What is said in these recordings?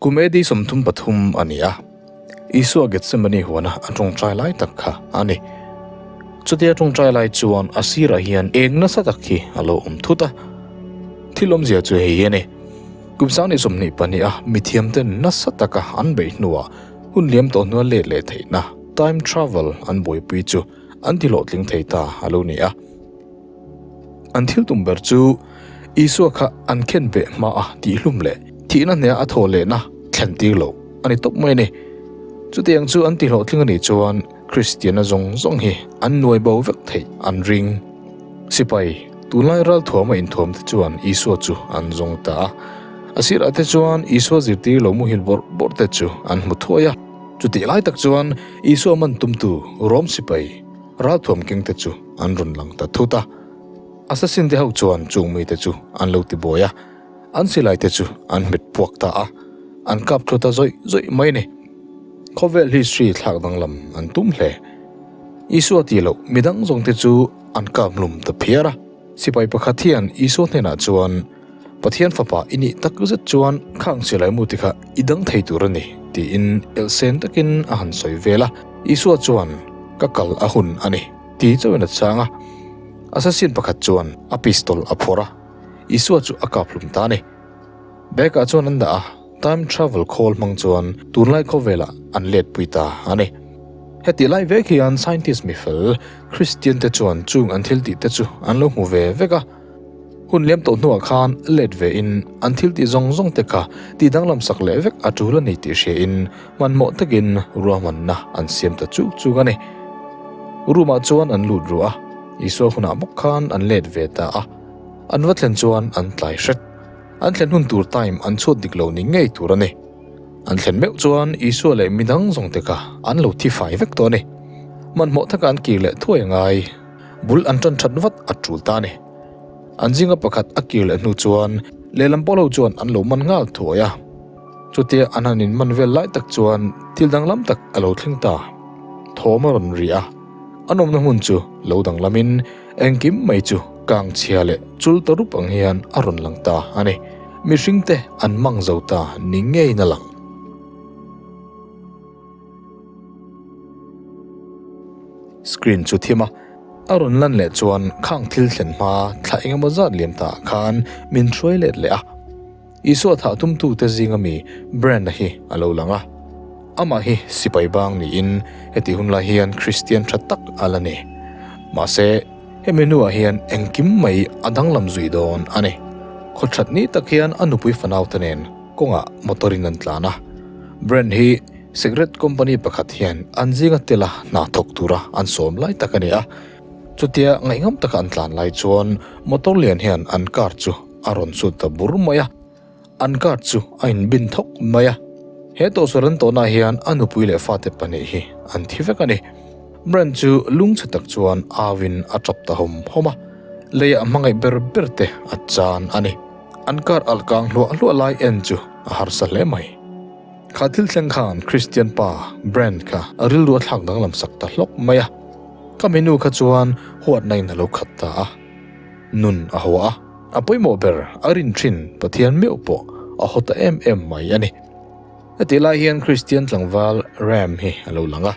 Kum AD sawmthum pathum a ni a, Isua Getsemane huana a ṭawngṭai lai tak kha a ni. Chutia ṭawngṭai lai chuan a sirah hian êng nasa tak hi a lo awm thut a. Thil awmzia chu hei a ni, kum sangneh sawmhnih pahniha mithiamten nasa taka an beih hnuah hun liam tawh hnual let leh theihna, time travel, an buaipui chu an ti hlawhtling thei ta a lo ni a. An thiltum ber chu Isua kha an khen ve hma a tih hlum leh thihna hneha a thaw lehna thlen tir lo a ni tawp mai a ni. Chutiang chu an ti hlawhtling a nih chuan Kristiana zawng zawng hi an nuai bo vek theih an ring. Sipai, tunlai ralthuam a inthuam te chuan Isua chu an zawng ta a, a sirah te chuan Isua zirtir lo muhil bawrh bawrh te chu an hmu thuai a. Chutih lai tak chuan Isua man tumtu Rom sipai, Ralthuam kengte chu an rawn lang ta thut a, assassin-te ho chuan chung mite chu an lo ti buai a, an silaite chu an hmet puak ta a, an kap tlu ta zawih zawih mai ni. Khawvel hi Sri thlak danglam an tum hle. Isua ti lo midang zawngte chu an kap hlum ta phiar a. Sipai pakhat hian Isua hnenah chuan. Pathian Fapa i nih tak zet chuan khang che lai mu tikah i dang thei tur a ni, tiin elhsen takin a han sawi vel a. Isua chuan, Ka kal a hun a ni, ti chauhin a chang a. Assassin pakhat chuan a pistol a phawrh a, Isua chu a kaphlum ta a ni. Bag-ah chuan an dah a, time travel khawl hmang chuan tunlai khawvelah an letpui ta a ni. Hetih lai vek hian scientist mi fel Kristiante chuan chung an thil tihte chu an lo hmu ve vek a. Hun lem tawh hnuah khan let ve in an thil tih zawng zawng te kha ti danglam sak leh vek a tul a ni tih hria in hmanhmawh tak in ruahman na an siam ta chuk chuk a ni. Room ah chuan an lut ruah a, Isua hunah bawk khan an let ve ta a, an va thlen chuan an tlai hret. An thlen hun tur time an chhuat dik lo ni ngei tur a ni. An thlen meuh chuan Isua leh midang zawng te kha an lo thi fai vek tawh a ni. Hmanhmawh tak ah an kir leh thuai a ngai. Bul an tan that vat a tul ta a ni. An zinga pakhat a kir leh hnu chuan lehlam pawh lo chuan an lo man nghal thuai a. Chutia an han in man vel lai tak chuan thil danglam tak a lo thleng ta. Thawm a rawn ri a. An awmna hmun chu lo danglam in engkim mai chu kang chhia leh chul ta rup ang hian a rawn lang ta a ni. Mihring te an mang zo ta ni ngeiin a lang. Screen chu thim a, a rawn lan leh chuan khang thil thlen hma thla eng emaw zat liam tah khan min hruai let leh a. Isua thah tum tu te zing a mi Brand a hi a lo lang a, amah hi sipai bang niin heti hun lai hian Kristian tha tak a la ni. Mahse, he menu ah hian engkim mai a danglam zui dawn a ni. Khaw that ni tak hian a nupui fanau te nen, kawngah motor in an tlan a, brand hi cigarette company pakhat hian an zinga tel a hna thawk tura an sawm lai tak a ni a, chutia ngaihngham taka an tlan lai chuan motor lian hian an car chu a rawn chhut ta bur mai a, an car chu a in bin thawk mai a, he tawhsaw ran tawnah hian a nupui leh fate pahnih hi an thi vek a ni, brand chu lungchhe tak chuan au in a tap ta hawm hawm a, leiah hmangaih ber ber te a chan a ni. An kar alh kang hluah hluah lai en chu a harsa hle mai. Kha thil thleng khan Kristian pa Brent kha a rilru a thlak danglam sak ta hlawk mai a. Ka minu kha chuan huatna in a lo khat ta a. Nun a haw a. A pawimawh ber a rin thin Pathian meuh pawh a haw ta em em mai a ni. Hetihlai hian Kristian tlangval Ram hi a lo lang a,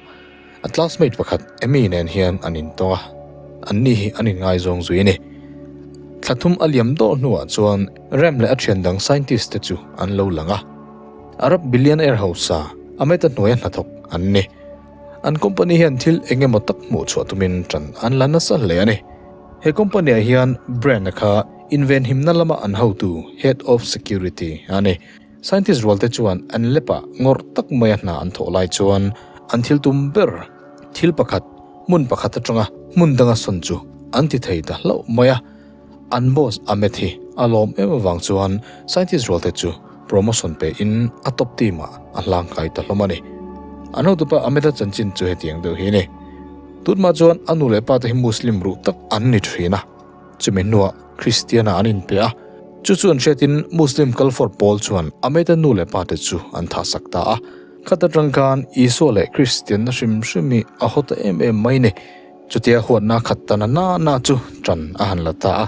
A classmate pakhat Emmy nen hian an intawng a, anni hi an inngai zawng zui a ni. Thla thum a liam dawh hnuah chuan Rem leh a thian dang scientist te chu an lo lang a. Arab billionaire hausa Ameta hnuaia hnathawk an ni. An company hian thil eng emaw tak hmuh chhuah tumin tan an la nasa hle a ni. He company ah hian brand kha invenhimna lama an hotu, head of security, a ni. Scientist rualte chuan an lepa ngawrh tak maia hna an thawh lai chuan an thil tum ber. Thil pakhat, hmun pakhat atanga hmun danga sawn chu an ti thei ta hlauh mai a. An boss a met hi a lawm em avang chuan scientist rualte chu promotion pein a top team ah a hlang kai ta hlawm a ni. An hotupa a meta chanchin chu hetiang deuh hi a ni. Tut mah chuan a nu leh pa te hi Muslim ruh tak an ni thin a. Chumi hnuah Kristiana an inpe a, chu chuan hriatin Muslim kal fawr pawl chuan a mate nu leh pa te chu an thahsak ta a. Khat atang khan Isua leh Kristianna hrim hrimi a haw ta em em mai ni. Chutia huatna khat ta na nana chu tan a han la ta a.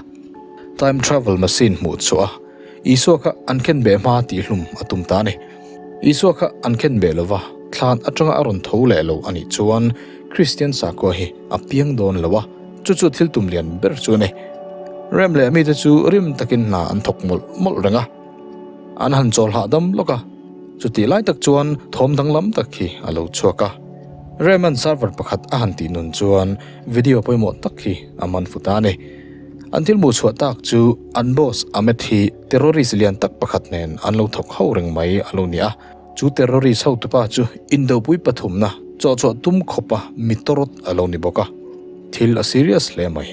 Time travel machine hmuh chhuah a, Isua kha an khenbeh hma tih hlum a tum ta a ni. Isua kha an khen beh lova, thlan atanga a rawn tho leh lo a nih chuan Kristian sakua hi a piang dawn lo a, chu chu thil tum lian ber chu a ni. Rem leh mite chu rim takin hna an thawk mawlh mawlh reng a, an han chawl hlah dam lawk a, chutih lai tak chuan thawm danglam tak hi a lo chhuak a. Rem-a'n server pakhat a han tih nun chuan video pawimawh tak hi a man fut a ni. An thil hmuhchhuah tak chu an boss Ahmed hi, terrorist lian tak pakhat nen an lo thawk hauh reng mai a lo ni a. Chu terrorist hotu pa chu Indopui pathumna chawh chawh tum khawpa mi tawrawt a lo ni bawk a. Thil a serious hle mai.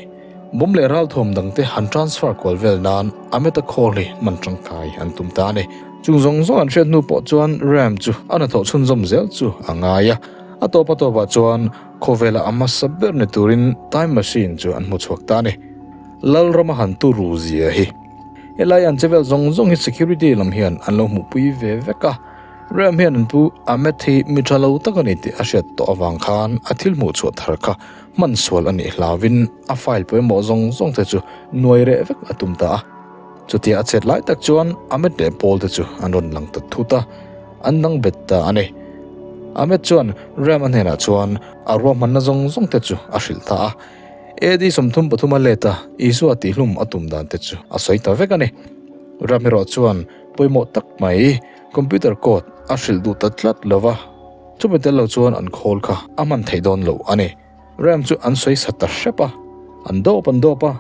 Bawm leh ral thawm dang te han transfer kual vel nan a meta call hi hman tangkai an tum ta a ni. Chung zawng zawng an hriat hnu pawh chuan ram chu a hnathawh chhunzawm zel chu a ngai a. A tawp a tawp ah chuan khawvela a hmasa ber ni turin time machine chu an hmu chhuak ta a ni. Lalrama han tu ru zia hi. Helai an chevel zawng zawng hi security lam hian an lo hmuhpui ve vek a, Ram hian an pu Amit hi mi tha lo tak a ni tih a hriat tawh avang khan a thil hmuh chhuah thar kha hman sual a nih hlauin a file pawimawh zawng zawng te chu nuai reh vek a tum ta a. Chutia a chhet lai tak chuan Amit leh Paul te chu an rawn lang ta thut a, an dang bet ta a ni. Amit chuan Ram a hnenah chuan a ruahmanna zawng zawng te chu a hrilh ta a, AD. sawmthum pathum a leta Isua tihlum a tum dan te chu a sawi ta vek a ni. Ramiro chuan pawimawh tak mai computer code a hrilh duh ta tlat lo va, chumi tel lo chuan an khawl kha a hman theih dawn lo a ni. Ram chu an sawi sa ta hrep a, an dawp an dawp a,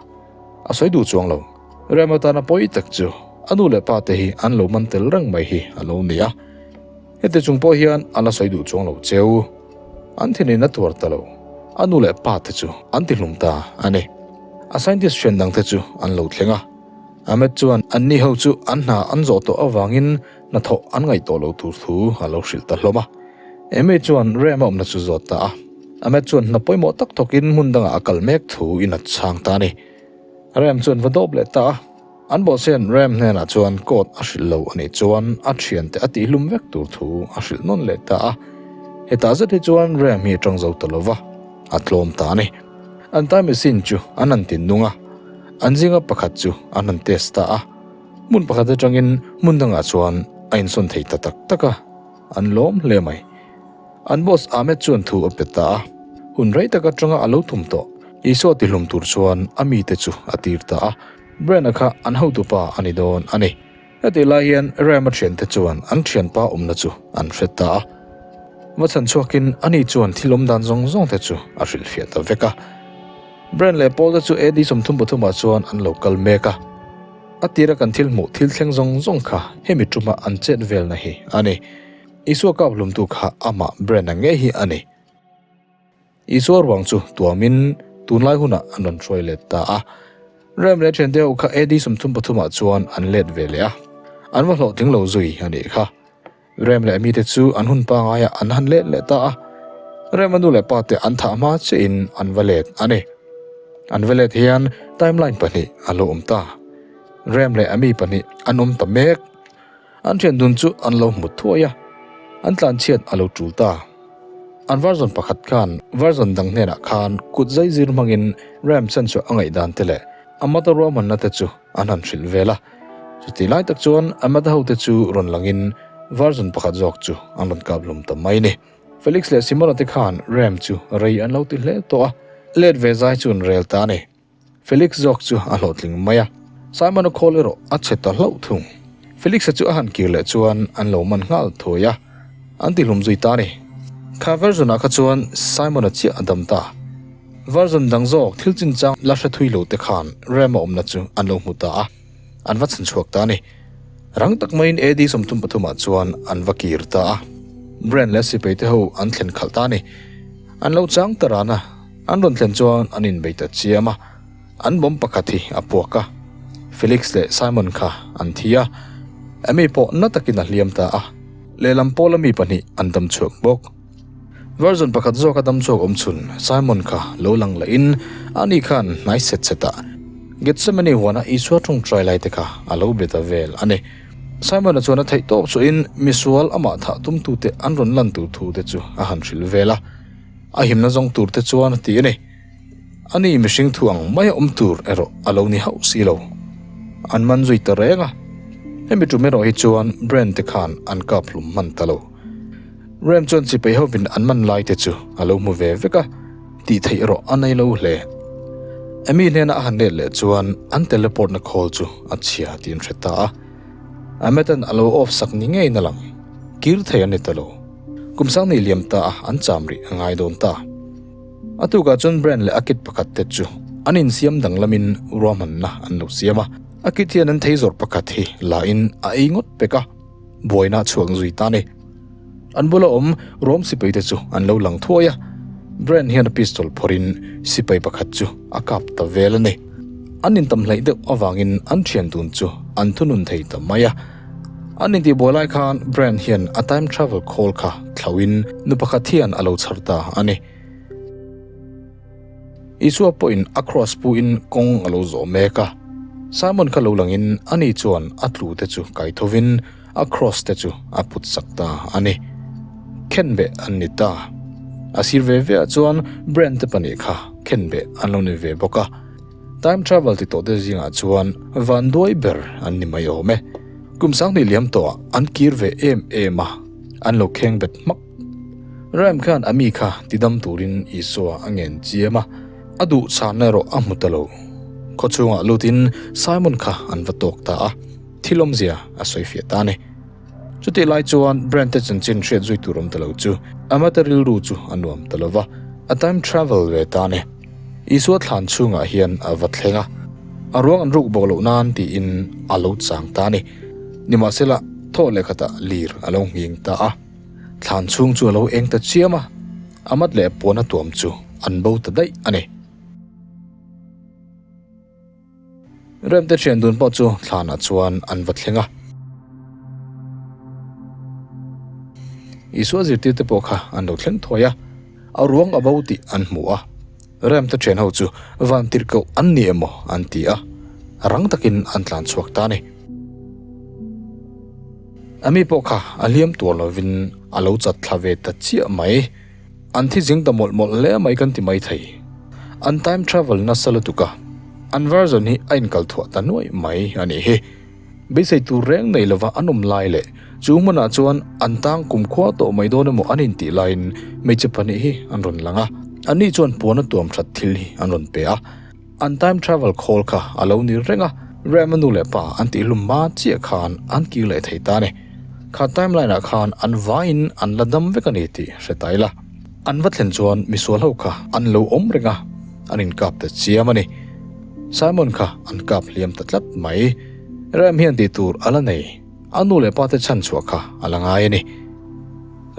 a sawi duh chuang lo. Ram atana pawi tak chu a nu leh pa te hi an lo man tel reng mai hi a lo ni a. Heti chung pawh hian an la sawi duh chuang lo cheu. An thil in a tuar ta lo. A nu leh pa te chu an ti hlum ta a ni. A scientist hriat dang te chu an lo thleng a. A met chuan an ni ho chu an hna an zawh tawh avangin hnathawh an ngaih tawh lo tur thu a lo hrilh ta hlawm a. Amy chuan Ram-a awmna chu zawt ta a. A met chuan hna pawimawh tak thawkin hmun dangah a kal mek thu in a chhang ta a ni. Ram chuan va dawp leh ta a. An bawhchhian Ram hnenah chuan court a hrilh lo a nih chuan a thiante a tihhlum vek tur thu a hrilh nawn leh ta a. Hetah zet hi chuan Ram hi a ṭang zo ta lova, a tlawm ta a ni. An time sin chu an han tin nung a, an zinga pakhat chu an han test ta a, hmun pakhat aṭangin hmun dangah chuan a insawn thei ta tak tak a, an lawm hle mai. An boss Ahmed chuan thu a pe ta a, hun rei tak aṭanga a lo thum tawh. Isua tihlum tur chuan a mite chu a tir ta a. Brent-a kha an hotu pa a ni dawn a ni. Hetih lai hian Ram-a thiante chuan an thianpa awmna chu an hre ta a. Va chhan chhuakin ani chuan thil awm dan zawng zawngte chu a hrilhfiah ta vek a. Brent leh Paul-te chu AD sawmthum pathumah chuan an lo kal mek a. A tira kan thil hmuh thil thleng zawng zawng kha hemi ṭuma an chet velna hi a ni. Isua kâwhlumtu kha amah Brent-a ngei hi a ni. Isua ruang chu tuamin tunlai hunah an rawn hruai let ta a. Rem leh thian deuh kha AD sawmthum pathumah chuan an let ve leh a, an va hlawhtling lo zui a nih kha. Rem leh mite chu an hun pangaiah an han let leh ta a. Rem a nu leh pa te an thah hma chiahin an va let a ni. An va let hian timeline pahnih a lo awm ta. Rem leh a mi pahnih an awm ta mek. An rian dun chu an lo hmu thuai a, an tlan chhiat a lo tul ta. An varzawn pakhat khan varzawn dang hnenah khan kut zai zir hmangin Ram Chanchua a ngaihdante leh a mata ruahmannate chu an han hrilh vel a. Chuti lai tak chuan a mata hote chu rawn langin varzawn pakhat zawk chu an rawn kap hlum ta mai ni. Felix leh Simona te khan Ram chu rei an lo ti hle tawh a, let ve zai chuan rel ta a ni. Felix zawk chu a hlawhtling mai a, Simon a call erawh a chhe ta hlauh thung. Felix-a chu a han kir leh chuan an lo man nghal thuai a, an ti hlum zui ta ni. Kha Verson-a kha chuan Simon-a chiah a dam ta. Verson dang zawk thil chinchang la hre thui lo te khan Rem-a awmna chu an lo hmu ta a. An va chhan chhuak ta a ni. Rang tak maiin AD sawmthum pathumah chuan an va kir ta a. Brian leh a sipeite ho an thlen khalh ta a ni. An lo chang ta rana an rawn thlen chuan an inbei ta chiam a. An bawm pakhat hi a puak a. Felix leh Simon kha an thi a. Amy pawh na takin a hliam ta a. Lehlam pawla mi pahnih an dam chhuak bawk. Version pakhat zawka dam chhuak awm chhun Simon kha lo lang la in ani khan hnai set set a Gethsemane huana Isua ṭhung ṭai lai te kha a lo be ta vel a ni. Simon a chuan a theih tawp chu in misual amah thah tum tu te an rawn lan tu thu te chu a han hrilh vel a, a himna zawng tur te chuan ti a ni. A ni mihring thu ang mai a awm tur erawh a lo ni hauh si lo. An man zui ta reng a. Hemi tum erawh hi chuan Brent te khan an kap hlum hman ta lo. Rem chuan chipei hovin an man lai te chu a lo hmu ve vek a, tih theih erawh a nei lo hle. Amy hnena a han let leh chuan an teleportna call chu a chhia tih an hre ta a. Ametan a lo off sak ni ngeiin a lang. Kir thei a ni ta lo. Kum sang nih liam ta a, an cham rih a ngai dawn ta. A tukah chuan Brent leh a kit pakhat te chu an insiam danglamin ruahmanna an lo siam a, a kit hian an thei zawrh pakhat hi lahin a ei ngawt pek a, buaina chhuak zui ta ni. An bula awm ruam sipai te chu an lo lang thuai a, Brent hian a pistol phawrhin sipai pakhat chu a kap ta vel a ni. An intam hlaih deuh avangin an thian dun chu an thunun thei ta mai a. An intih buai lai khan Brian hian a time travel khawl kha thlauhin nu pakhat hian a lo chhar ta a ni. Isua pawhin a kraws puin kawng a lo zawh mek a. Simon kha lo langin a ni chuan a tlute chu kai thovin a kraws te chu a putsak ta a ni. Khenbeh an ni ta. A sir ve veah chuan Brian te pahnih kha khenbeh an lo nei ve bawk a. Time travel ti tawh te zingah chuan van duai ber an ni mai awm e. Kum sang hnih liam tawhah an kir ve em em a, an lo kheng bet hmak. Ram khan a mi kha ti dam turin Isua a ngen chiam a, a duh chhan erawh a hmu ta lo. Khawchhungah lutin Simon kha an va tawk ta a, thil awmzia a sawi fiah ta a ni. Chutih lai chuan Brent te chanchin hriat zui tur awm ta lo chu Amata rilru chu a nuam ta lo va, a time travel ve tan e. Isua thlan chhungah hian a va thleng a, a ruang an ruk bawk loh nan tiin a lo chang ta a ni. Nimahsela, thaw leh khatah lir a lo nghing ta a, thlan chhung chu a lo eng ta chiam a, a mat leh a puana tuam chu an bo ta daih a ni. Remte thian dun pawh chu thlanah chuan an va thleng a. Isua zirtirte pawh kha an lo thleng thuai a, a ruang a bo tih an hmu a. Remte thian ho chu van tirh koh an ni emaw an ti a, rang takin an tlan chhuak ta a ni. Ami pawh kha a hliam tuar lovin a lo chatthlak ve ta chiah mai. An thi zing ta mawlh mawlh hle mai kan ti mai thei. An time travel nasa lutuk a, an version hi a inkalthuah ta nuaih mai a nih hi. Beisei tur reng nei lova an awm lai leh chu hmunah chuan an tang kum khua tawh mai dawn emaw an intih laiin hmeichhe pahnih hi an rawn lang a, anni chuan puana tuam that thil hi an rawn pe a. An time travel khawl kha a lo nir reng a, Ram-a nu leh pa an tih hlum hma chiah khan an kir leh thei ta ni. Kha timeline-ah khan an vaiin an la dam vek a ni tih hre ta ila. An va thlen chuan misual ho kha an lo awm reng a, an inkap ta chiam a ni. Simon kha an kap hliam ta tlat mai. Ram hian tih tur a la nei. A nu leh pate chhan chhuah kha a la ngai a ni.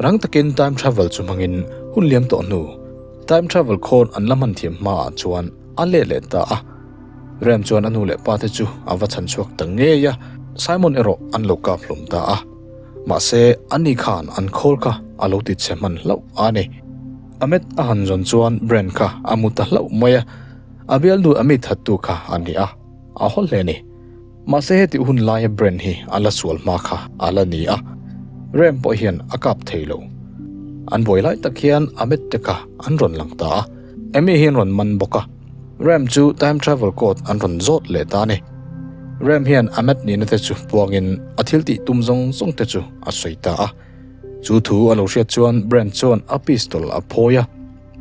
Rang takin time travel chu hmangin hun liam tawh hnu, time travel khawn an la hman thiam hmaah chuan a let leh ta a. Rem chuan a nu leh pate chu a va chhan chhuak ta ngei a, Simon erawh an lo kap hlum ta a. Mahse, ani khan an khawl kha a lo ti chhe hman hlauh a ni. A met a han zawn chuan brain kha a mu ta hlauh mai a, a bialnu a mi thattu kha a ni a, a haw hle a ni. Mahse heti hun laia brand hi a la sual hma kha a la ni a, rem pawh hian a kap thei lo. An buai lai tak hian a medtech a an rawn lang ta a, Emmy hi an rawn man bawk a, rem chu time travel code an rawn zawt leh ta a ni. Rem hian a med nihna te chu puangin a thil tih tum zawng zawng te chu a sawi ta a. Chu thu a lo hriat chuan brand chuan a pistol a phawi a,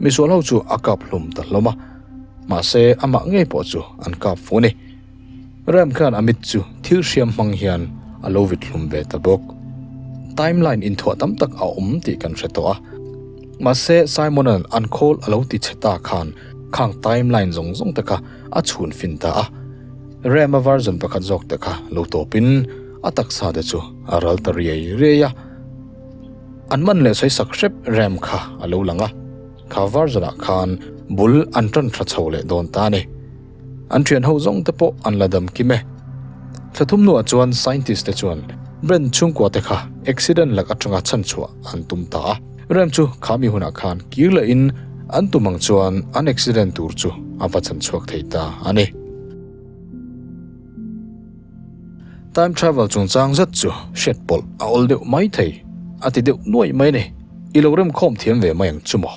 misual ho chu a kap hlum ta hlawm a, mahse amah ngei pawh chu an kap fuh a ni. Ram khan a mit chu thil hriam hmang hian a lo vit hlum ve ta bawk. Timeline inthuah tam tak a awm tih kan hre tawh a. Mahse, Simon-a'n an khawl a lo ti chhe ta khan khang timeline zawng zawng te kha a chhun fin ta a. Ram-a version pakhat zawk te kha lo tawpin a taksa te chu a ral ta riai riai a. An man leh sawi sak hrep Ram kha a lo lang a. Kha version-ah khan bul an tan hra chho leh dawn ta a ni. An thian ho zawng te pawh an la dam kim e. Thla thum hnuah chuan scientist te chuan rem chhungkua te kha accident lak atanga chhan chhuah an tum ta a. Rem chu khami hunah khan kir leh in an tum ang chuan an accident tur chu a va chan chhuak thei ta a ni. Time travel chungchang zet chu hriat pawlh a awl deuh mai thei. A ti deuh nuaih mai a ni. I lo rem khawm thiam ve mai ang chu maw?